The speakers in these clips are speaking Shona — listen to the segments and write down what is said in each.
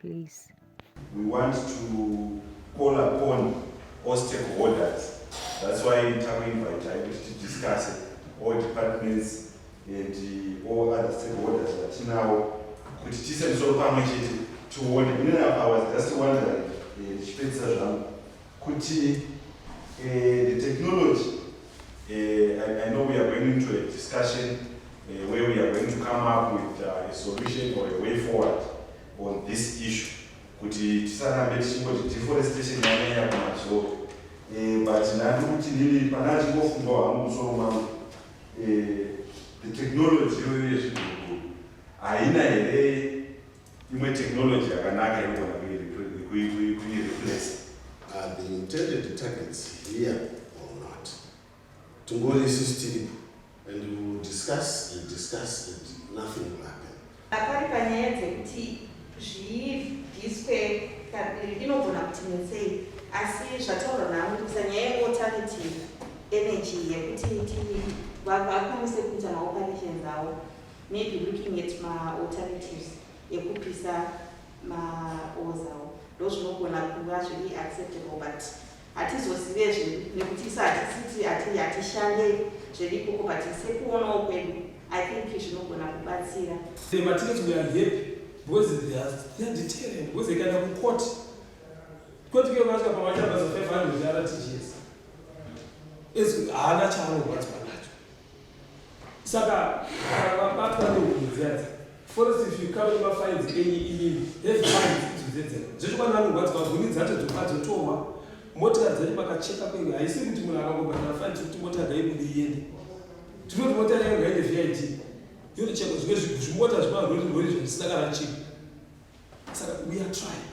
please we want to call upon all stakeholders that's why takuinvita kuti tidiscuse all departments and all other stakeholders vatinawo kuti tise misoro pamwe chete tione inenapa was just wondering eh, ndichipedzisa zvangu Kuti uh, the technology, uh, I, I know we are going into a discussion uh, where we are going to come up with uh, a solution or a way forward on this issue. Kuti tisarambe tichingoti deforestation yanaya kumazoro. Uh, but nani kuti ndini pana chingofungawo hangu musoro mangu. Uh, the technology iyoyo yezviguruguru haina here imwe technology yakanaka inogona kuireplace are the intended targets here or not tingori isis tiripo and we will discuss and discuss and nothing will happen apari panyaya dzekuti zvibviswe kabiri inogona kuti netsei asi zvataurwa naamurisa nyaya yealternative energy yekuti tv vakwanise kuita maoperations avo maybe looking at ma alternatives ekupisa ma walls awo ndozvinogona kuva zviri acceptable but hatizozive zve nekuti isu hatisiti hatishande zvedi ikoko but sekuonawo kwedu i think zvinogona kubatsira matiketi we are happy because they are determined because they can have a court court ke vanoita pamachamba za 500 rtgs haana chaanogwadzwa saka vabatwa nehunhu dziyadzi forest if you come nemafainzi enyu imimi have fines idzo dzedzera zvechokwadi vanorwadziwa huni dzacho dzofa dzotorwa motika dzedu makacheka kwenyu haisi kuti munhu akangobhadhara faini tiri kuti mota ngaibudi iende tiri kuti mota yayo ngaine vid yotochekwa zvimwe zvimota zvemarori rori zvisina kana chii saka we are trying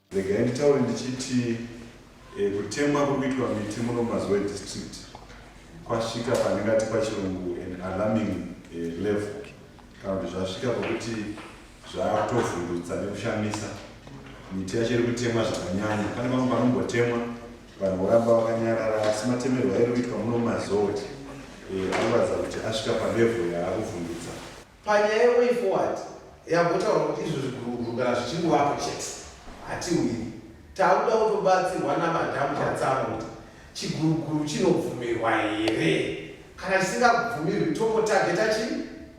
Regai nditaure ndichiti eh, kutemwa kuri kuitwa miti muno mazuva edistrict kwasvika pandingati pachirungu an alarming eh, level kana kuti zvasvika pakuti zvakutovhundutsa nekushamisa miti yacho iri kutemwa zvakanyanya pane vamwe vanombotemwa vanhu voramba vakanyarara asi matemerwa iri kuitwa muno mazowe eh, anoratidza kuti asvika palevho yaakuvhundutsa Panyaya yeway forward yambotaura kuti izvo zviguruguru kana zvichingovapo chete hatiwiri takuda kutobatsirwa namadhamu chatsama kuti chiguruguru chinobvumirwa here kana chisingabvumirwi tongotageta chi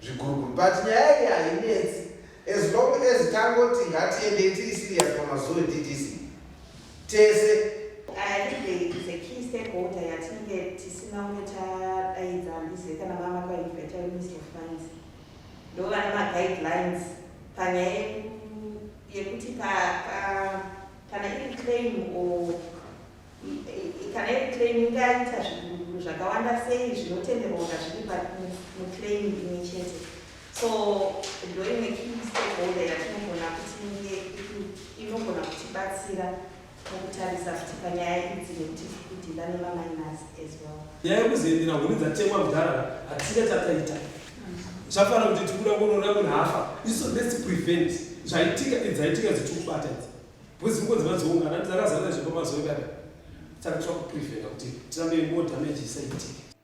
zviguruguru but nyaya iyi hainetsi as long as tangoti ngatiendei tiri serious pamazuve ddc tese yatinenge tisina umwe tadaidza handizve kana vama kwainvita minister of finance ndovana maguidelines panyaya yekuti kana iri claim or kana iri claim ingaita zvakawanda sei zvinotenderwa kazviri muclaim imwe chete so ndoimwe kistakeholder yatinogona kuti inge inogona kutibatsira mukutarisa kuti panyaya idzi nekuti kudhila nemaminas as well nyaya yekuzoendera huni dzatemwa mudharara hatina chataita zvafanira kuti tikuda kunoona munhu hafa iso let's prevent zvaitika idzaitika dzichikubata idzi because muko dzima dzoungana dzakazara zvepamazoikada saka tira kupreventa kuti tirambe more damage isaitike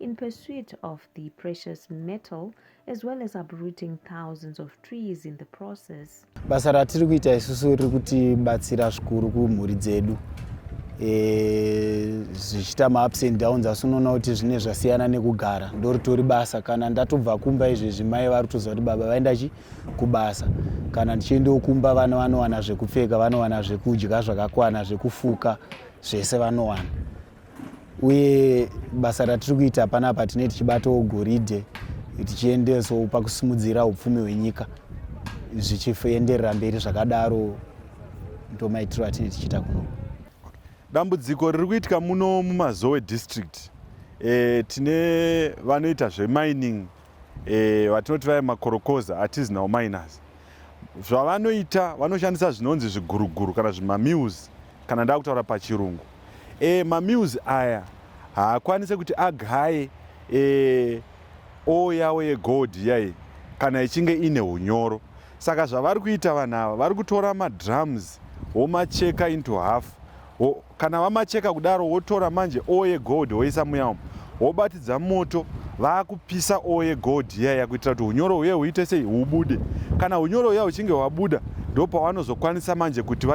in pursuit of the precious metal as well as uprooting thousands of trees in the process. Basa ratiri kuita isusu riri kutibatsira zvikuru kumhuri dzedu e, zvichiita maups and downs asi unoona kuti zvine zvasiyana nekugara ndoritori basa kana ndatobva kumba izvezvi mai vari kutoziva kuti baba vaenda chi kubasa kana ndichiendawo kumba vana vanowana zvekupfeka vanowana zvekudya zvakakwana zvekufuka zvese vanowana uye basa ratiri kuita panapa tinee tichibatawo goridhe tichiendesawo pakusimudzira upfumi hwenyika zvichienderera mberi zvakadaro ndomaitiro atinee tichiita kuno dambudziko riri kuitika muno mumazowe district e, tine vanoita zvemining e, vatinoti vaye makorokoza artisanal miners zvavanoita vanoshandisa zvinonzi zviguruguru kana zvimamills kana ndaa kutaura pachirungu e, mamills aya haakwanise kuti agaye e, o yavo yegold yai kana ichinge ine unyoro saka zvavari kuita vanhu ava vari kutora madrums womacheka into half wo, Kana vamacheka kudaro wotora manje oil yegold woisa muya umu wobatidza moto vakupisa oil yegold iyaya kuitira kuti unyoro huye huite sei hubude. Kana unyoro huya huchinge hwabuda ndopawanozokwanisa manje kuti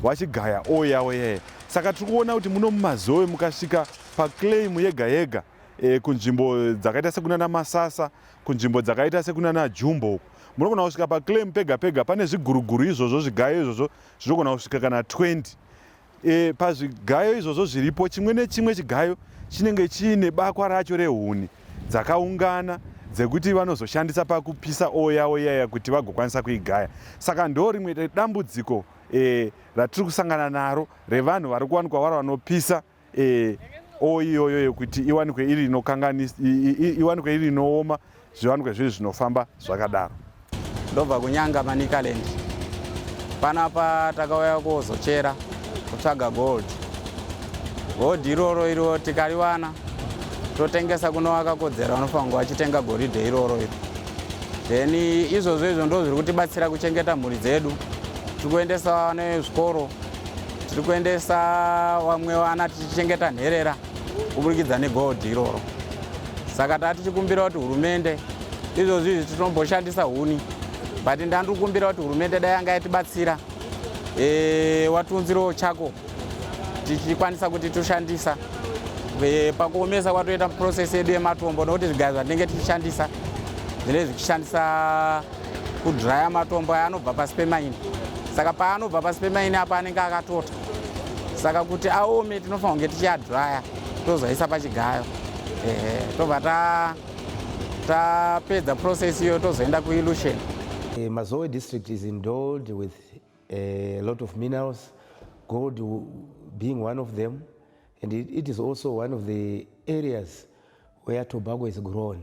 vachigaya oil yavo iyaya. Saka tiri kuona kuti muno mumazowe mukasvika paclaim yega yega e, kunzvimbo dzakaita sekunana masasa kunzvimbo dzakaita sekunana jumbo uku munogona kusvika paclaim pega pega pane zviguruguru izvozvo zvigayo izvozvo zvinogona kusvika kana 20 e, pazvigayo izvozvo zviripo chimwe nechimwe chigayo chinenge chiine bakwa racho rehuni dzakaungana dzekuti vanozoshandisa pakupisa oya oyaya kuti vagokwanisa kuigaya saka ndo rimwe dambudziko e, ratiri kusangana naro revanhu vari kuwanikwa varo vanopisa e, o iyoyo yekuti iwanikwe iri inokanganisa iwanikwe iri inooma zviwanikwe zviri zvinofamba zvakadaro ndobva kunyanga manicaland panapa takauya kuzochera kutsvaga gold gold iroro iro tikariwana totengesa kuno wakakodzera unofanira kunge wachitenga goridhe iroro iro then izvozvo izvo ndo zviri kutibatsira kuchengeta mhuri dzedu tiri kuendesa nezvikoro tiri kuendesa vamwe vana tichichengeta nherera kuburikidza negoldhi iroro saka taa tichikumbira kuti hurumende izvozvi izvi tinomboshandisa huni but ndandiri kukumbira kuti hurumende dai yanga yatibatsira e, watiunzirewo chako tichikwanisa kuti toshandisa e, pakuomesa kwatoita process yedu yematombo nokuti zvigayo zvatinenge tichishandisa zvinenge zvichishandisa kudhiraya matombo aya anobva pasi pemaini saka paanobva pasi pemaini apa anenge akatota saka kuti aome tinofanira kunge tichiadhiraya tozoisa pachigayo ehe tobva tapedza ta process iyo tozoenda kuillution uh, eh, mazoe district is indoled with a lot of minerals gold being one of them and it, it is also one of the areas where tobacco is grown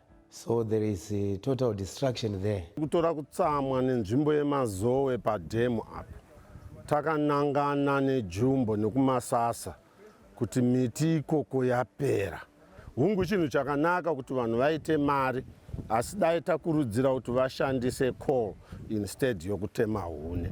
So there is a total destruction there. Kutora kutsamwa nenzvimbo yemazowe padhemu apa takanangana nejumbo nekumasasa kuti miti ikoko yapera. Hungu chinhu chakanaka kuti vanhu vaite mari asi dai takurudzira kuti vashandise coal instead yokutema hune.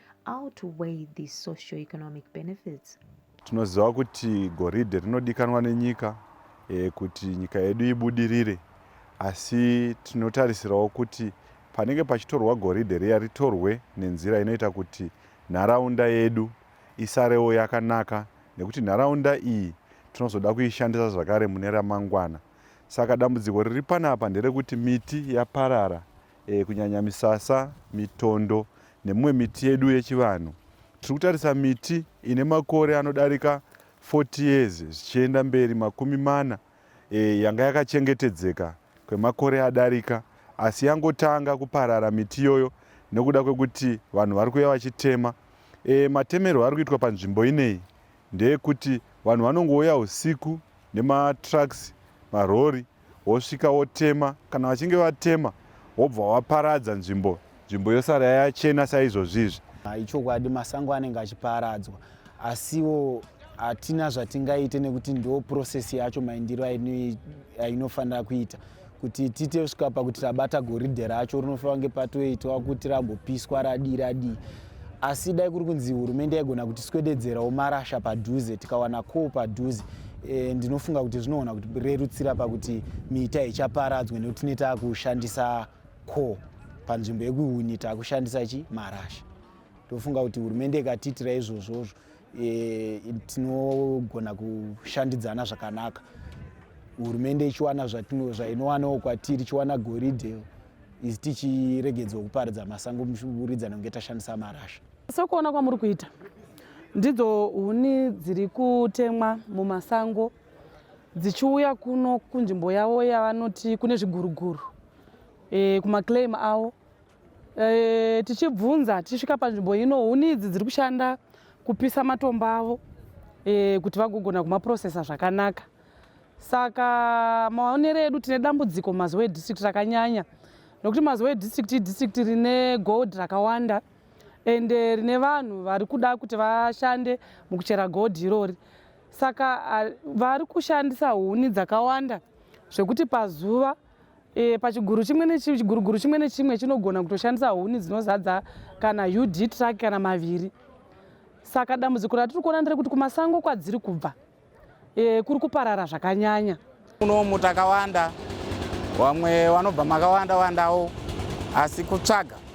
outweigh the socio-economic benefits. Tinoziva kuti goridhe rinodikanwa nenyika e, kuti nyika yedu ibudirire, asi tinotarisirawo kuti panenge pachitorwa goridhe riya ritorwe nenzira inoita kuti nharaunda yedu isarewo yakanaka, nekuti nharaunda iyi tinozoda kuishandisa zvakare mune ramangwana. Saka dambudziko riri panapa nderekuti miti yaparara e, kunyanya misasa, mitondo nemimwe miti yedu yechivanhu. Tiri kutarisa miti ine makore anodarika 40 years zvichienda mberi makumi mana e, yanga yakachengetedzeka kwemakore adarika asi yangotanga kuparara miti iyoyo nekuda kwekuti vanhu vari kuya vachitema. E, matemerwo ari kuitwa panzvimbo ineyi ndeyekuti vanhu vanongouya husiku nematrucks marori wosvika wotema kana vachinge vatema wobva waparadza nzvimbo nzvimbo yosara yachena saizvozvizvi ah, ichokwadi masango anenge achiparadzwa asiwo hatina zvatingaite nekuti ndo process yacho maindiro ainofanira kuita kuti tiite kusvika pakuti tabata goridhe racho rinofanira kunge patoitwa kuti rambopiswa radii radii asi dai kuri kunzi hurumende yaigona kuti swededzerawo marasha padhuze tikawana call padhuze e, ndinofunga kuti zvinogona kuti rerutsira pakuti miita ichaparadzwe nekuti tine taakushandisa call panzvimbo yekuhuni taakushandisa chi marasha ndofunga kuti hurumende ikatiitira izvozvozvo e, tinogona kushandidzana zvakanaka hurumende ichiwana zvainowanawo kwatiri ichiwana goridhe isu tichiregedzwa kuparidza masango muridzana kunge tashandisa marasha sokuona kwamuri kuita ndidzo huni dziri kutemwa mumasango dzichiuya kuno kunzvimbo yavo yavanoti kune zviguruguru e, kumaclaim avo E, tichibvunza tichisvika panzvimbo ino huni idzi dziri kushanda kupisa matombo avo e, kuti vagogona kumaprocesa zvakanaka saka maonero edu tine dambudziko mazuva edistrict rakanyanya nokuti mazuva edistrict idistrict rine gold rakawanda and eh, rine vanhu vari kuda kuti vashande mukuchera gold irori saka vari kushandisa huni dzakawanda zvekuti pazuva E, pachiguru chimwe nechiguruguru chimwe nechimwe chinogona kutoshandisa huni dzinozadza kana ud truck kana maviri saka dambudziko ratiri kuona nderekuti kumasango kwadziri kubva e, kuri kuparara zvakanyanya unomu takawanda vamwe vanobva makawanda wandawo asi kutsvaga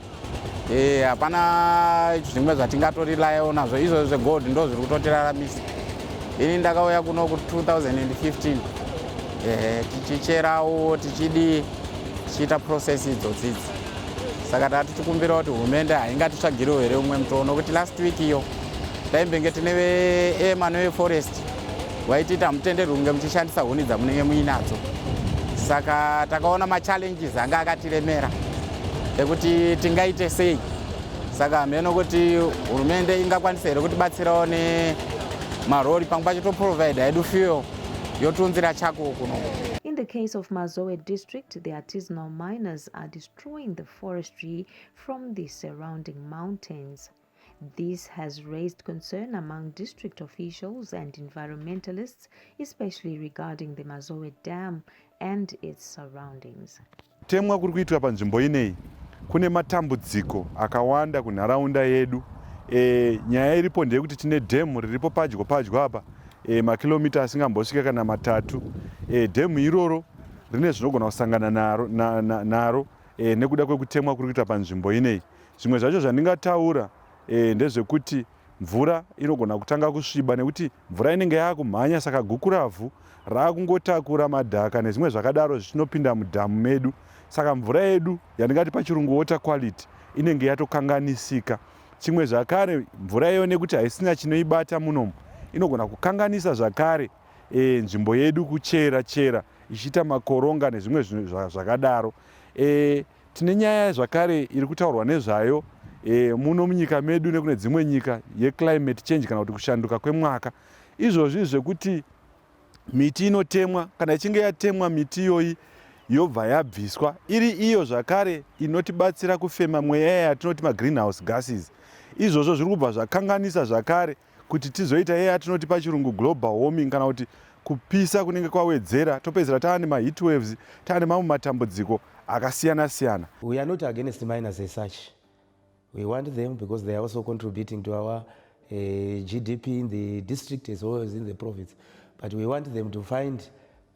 Eh, hapana zvimwe zvatingatorilayawo nazvo izvozvo zvegold ndo zviri kutotiraramisa ini ndakauya kuno ku 2015 eh, tichicherawo tichidii tichiita process idzodzi idzi saka taa tichikumbira kuti hurumende haingatitsvagiriwo here umwe mutoo nokuti last week iyo taimbenge tine veema neveforest waititi hamutenderwi kunge muchishandisa huni dzamunenge muinadzo saka takaona machallenges anga akatiremera ekuti tingaite sei saka hameno kuti hurumende ingakwanisa here kutibatsirawo nemarori pamwe pacho toprovide hedu fuel yotiunzira chako kuno In the case of Mazowe district, the artisanal miners are destroying the forestry from the surrounding mountains. This has raised concern among district officials and environmentalists, especially regarding the Mazowe Dam and its surroundings. Temwa kuri kuitwa panzvimbo ineyi kune matambudziko akawanda kunharaunda yedu. E, nyaya iripo ndeyekuti tine dhemu riripo padyo padyo apa e, makilomita asingambosvika kana matatu. E, dhemu iroro rine zvinogona kusangana naro, na, na, naro e, nekuda kwekutemwa kuri kuitwa panzvimbo ineyi. Zvimwe zvacho zvandingataura e, ndezvekuti mvura inogona kutanga kusviba nekuti mvura inenge yaakumhanya saka gukuravhu raakungotakura madhaka nezvimwe zvakadaro zvichinopinda mudhamu medu saka mvura yedu yandingati pachirungu water quality inenge yatokanganisika chimwe zvakare mvura iyo nekuti haisina chinoibata munomu inogona kukanganisa zvakare e, nzvimbo yedu kuchera chera ichiita makoronga nezvimwe zvakadaro e, Tine nyaya zvakare iri kutaurwa nezvayo e, muno munyika medu nekune dzimwe nyika yeclimate change kana kuti kushanduka kwemwaka izvozvi zvekuti miti inotemwa kana ichinge yatemwa miti iyoyi yobva yabviswa iri iyo zvakare inotibatsira kufema mweya yatinoti magreenhouse gases izvozvo zviri kubva zvakanganisa zvakare kuti tizoita iya yatinoti pachirungu global warming kana kuti kupisa kunenge kwawedzera topedzera taa nemaheat waves taa nemamwe matambudziko akasiyana siyana we are not against miners as such we want them because they are also contributing to our uh, eh, gdp in the district as well as in the province but we want them to find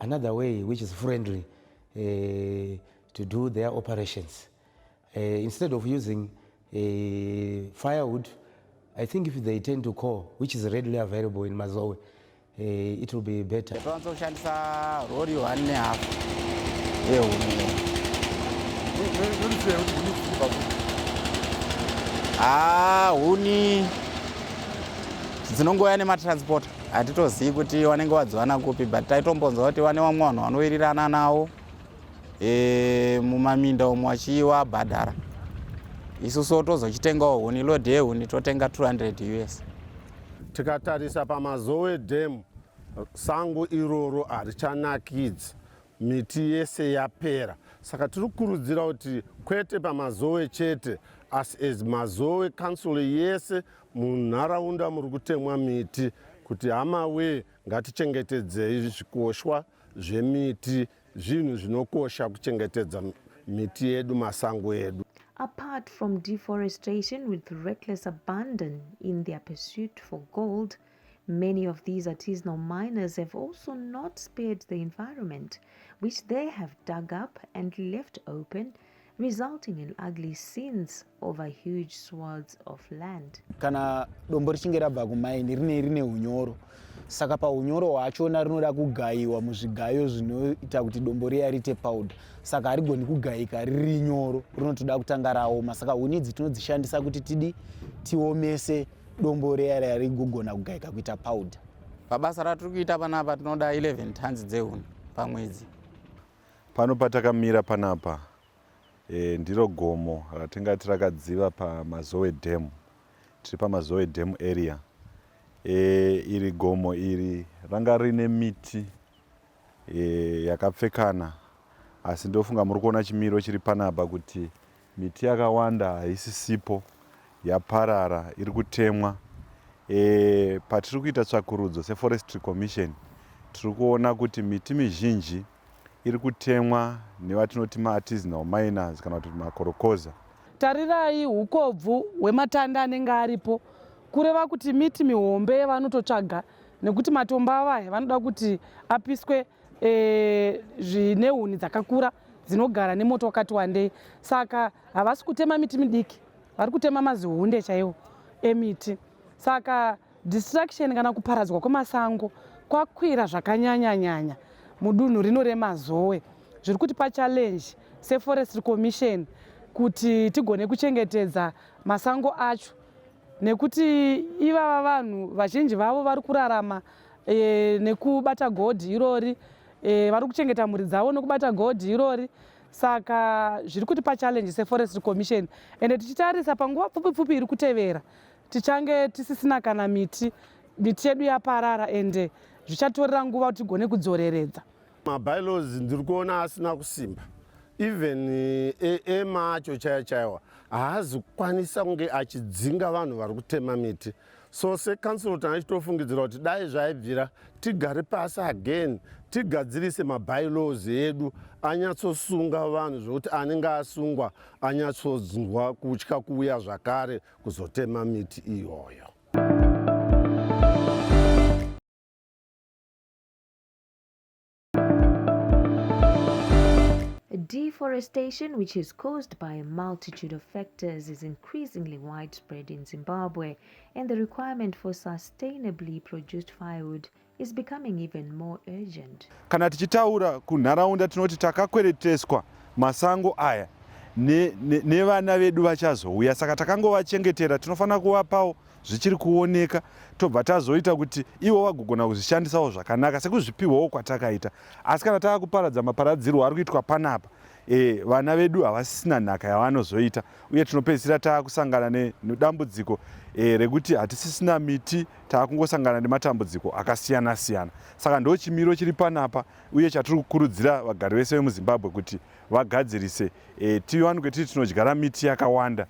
another way which is friendly uh, to do their operations Uh, instead of using uh, firewood, I think if they tend to coal, which is readily available in Mazowe, uh, it will be better. Twanza kushandisa rori one and a half. Ewu. Ah, huni dzinongouya nematransport hatitozivi kuti wanenge wadziwana kupi but taitombonzwa kuti wane vamwe vanhu vanowirirana nawo e, mumaminda umo achiiwa bhadhara isusu tozochitengawo huni lod yehuni totenga 200 us tikatarisa pamazowe dam sango iroro harichanakidzi miti yese yapera saka tiri kukurudzira kuti kwete pamazowe chete as as mazowe council yese munharaunda muri kutemwa miti kuti hama wee ngatichengetedzei zvikoshwa zvemiti Zvinhu zvinokosha kuchengetedza miti yedu, masango edu. Apart from deforestation with reckless abandon in their pursuit for gold, many of these artisanal miners have also not spared the environment, which they have dug up and left open resulting in ugly scenes over huge swords of land. Kana dombo richinge rabva kumaini rine rine unyoro saka paunyoro hwachona rinoda kugayiwa muzvigayo zvinoita kuti dombo riya riite powder saka harigoni kugayika riri nyoro rinotoda kutanga raoma saka huni idzi tinodzishandisa kuti tidi tiomese dombo riya riya rigogona kugayika kuita powder pabasa ratiri kuita panapa tinoda 11 tons dzehuni pamwedzi Pano patakamira panapa e, ndiro gomo ratingati rakadziva paMazowe Dam. Tiri paMazowe Dam area. E, iri gomo iri ranga rine miti e, yakapfekana asi ndofunga muri kuona chimiro chiri panapa kuti Miti yakawanda haisisipo yaparara iri kutemwa. Patiri kuita tsvakurudzo seForestry Commission tiri kuona kuti miti mizhinji iri kutemwa nevatinoti maartisanal miners kana kuti makorokoza. Tarirai hukobvu hwematanda anenge aripo kureva kuti miti mihombe yavanototsvaga nekuti matombo avo aya vanoda kuti apiswe e, zvine huni dzakakura dzinogara nemoto wakati wandei saka havasi kutema miti midiki vari kutema mazihunde chaiwo emiti saka distraction kana kuparadzwa kwemasango kwakwira zvakanyanyanyanya mudunhu rino remazowe zviri kuti pachallenge seforest commission kuti tigone kuchengetedza masango acho nekuti ivava vanhu vazhinji vavo vari kurarama e, nekubata godhi irori e, vari kuchengeta mhuri dzavo nekubata godhi irori saka zviri kuti pachallenji seforest commission ende tichitarisa panguva pfupi pfupi iri kutevera tichange tisisina kana miti miti yedu yaparara ende zvichatorera nguva kuti tigone kudzoreredza mabylos ndiri kuona asina kusimba even eh, ema acho chaiwa chaiwa haazi kukwanisa kunge achidzinga vanhu vari kutema miti so secouncil tanga tichitofungidzira kuti dai zvaibvira tigare pasi again tigadzirise mabylaws edu anyatsosunga vanhu zvekuti anenge asungwa anyatsonzwa kutya kuuya zvakare kuzotema miti iyoyo Deforestation, which is caused by a multitude of factors, is increasingly widespread in Zimbabwe, and the requirement for sustainably produced firewood is becoming even more urgent. Kana tichitaura kunharaunda tinoti takakwereteswa masango aya nevana ne, ne vedu vachazouya saka takangovachengetera tinofanira kuvapawo zvichiri kuoneka tobva tazoita kuti ivo vagogona kuzvishandisawo zvakanaka sekuzvipihwawo kwatakaita asi kana tava kuparadza maparadzirwo ari kuitwa panapa e, vana vedu havasisina nhaka yavanozoita uye tinopedzisira tava kusangana nedambudziko e, rekuti hatisisina miti tava kungosangana nematambudziko akasiyana siyana saka ndo chimiro chiri panapa uye chatiri kukurudzira vagari vese vemuzimbabwe kuti vagadzirise e, tivanike tiri tinodyara miti yakawanda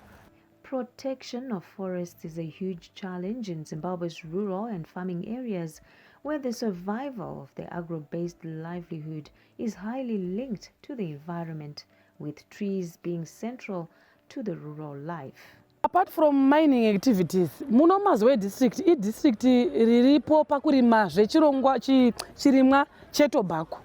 Protection of forests is a huge challenge in Zimbabwe's rural and farming areas, where the survival of the agro based livelihood is highly linked to the environment, with trees being central to the rural life. Apart from mining activities, muno Mazowe district i district riripo pakurima zvechirongwa chirimwa chetobacco.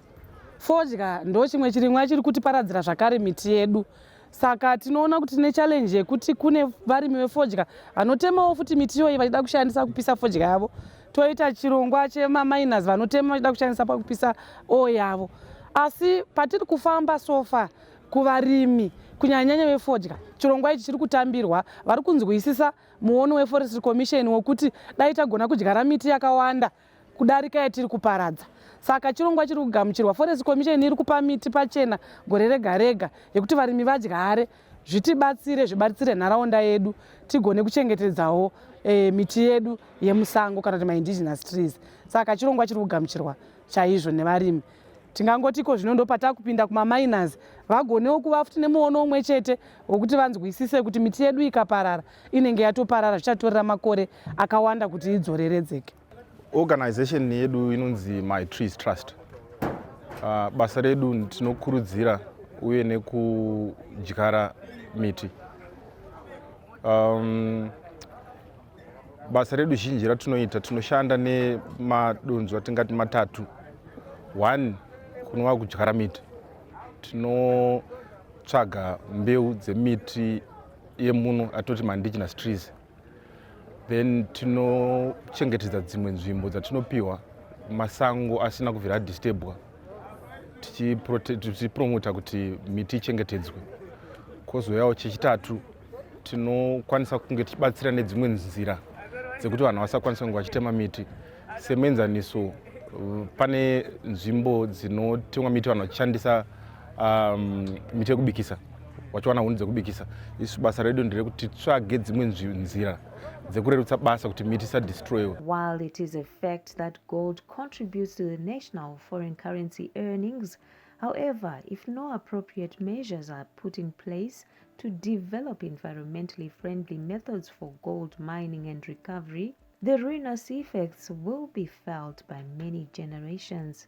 Fodya ndochimwe chirimwa chiri kutiparadzira zvakare miti yedu. saka tinoona kuti tine challenge yekuti kune varimi vefodya vanotemawo futi miti iyoyi vachida kushandisa kupisa fodya yavo toita chirongwa chemaminas vanotema vachida kushandisa pakupisa oo yavo asi patiri kufamba sofa kuvarimi kunyanyanyanya vefodya chirongwa ichi chiri kutambirwa vari kunzwisisa muono weforestry commission wekuti dai tagona kudyara miti yakawanda kudarika yatiri kuparadza saka chirongwa chiri kugamuchirwa forest commission iri kupa miti pachena gore rega rega yekuti varimi vadyare zvitibatsire zvibatsire nharaunda yedu tigone kuchengetedzawo e, miti yedu yemusango kana kuti maindigenous trees saka chirongwa chiri kugamuchirwa chaizvo nevarimi tingangoti iko zvino ndo patakupinda kumaminers vagonewo kuva futi nemuono umwe chete wekuti vanzwisise kuti miti yedu ikaparara inenge yatoparara zvichatorera makore akawanda kuti idzoreredzeke organization yedu inonzi my trees trust uh, basa redu tinokurudzira uye nekudyara miti um, basa redu zhinji ratinoita tinoshanda nemadonzwa tingati matatu one kunova kudyara miti tinotsvaga mbeu dzemiti yemuno atoti maindigenous trees then tinochengetedza dzimwe nzvimbo dzatinopiwa masango asina kubvira adistebwa tichipromota kuti miti ichengetedzwe kozouyawo chechitatu tinokwanisa kunge tichibatsira nedzimwe nzira dzekuti vanhu vasakwanisa kunge vachitema miti semenzaniso pane nzvimbo dzinotemwa miti vanhu vachishandisa um, miti yekubikisa wachiwana huni dzekubikisa isu basa redu nderekuti tsvage dzimwe nzira dzekurerutsa basa kuti miti isadestroyiwe while it is a fact that gold contributes to the national foreign currency earnings however if no appropriate measures are put in place to develop environmentally friendly methods for gold mining and recovery the ruinous effects will be felt by many generations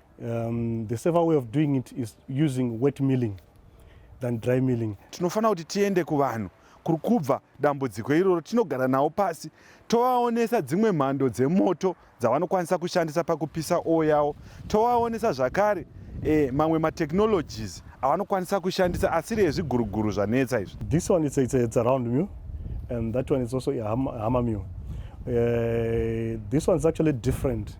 Um, the safer way of doing it is using wet milling than dry milling. Tinofanira kuti tiende kuvanhu kuri kubva dambudziko iroro tinogara nawo pasi tovaonesa dzimwe mhando dzemoto dzavanokwanisa kushandisa pakupisa oo yawo tovaonesa zvakare e, mamwe matechnologies avanokwanisa kushandisa asiri ezviguruguru zvanetsa izvi this one it's, it's, it's around meal and that one is also a hammer meal uh, this one is actually different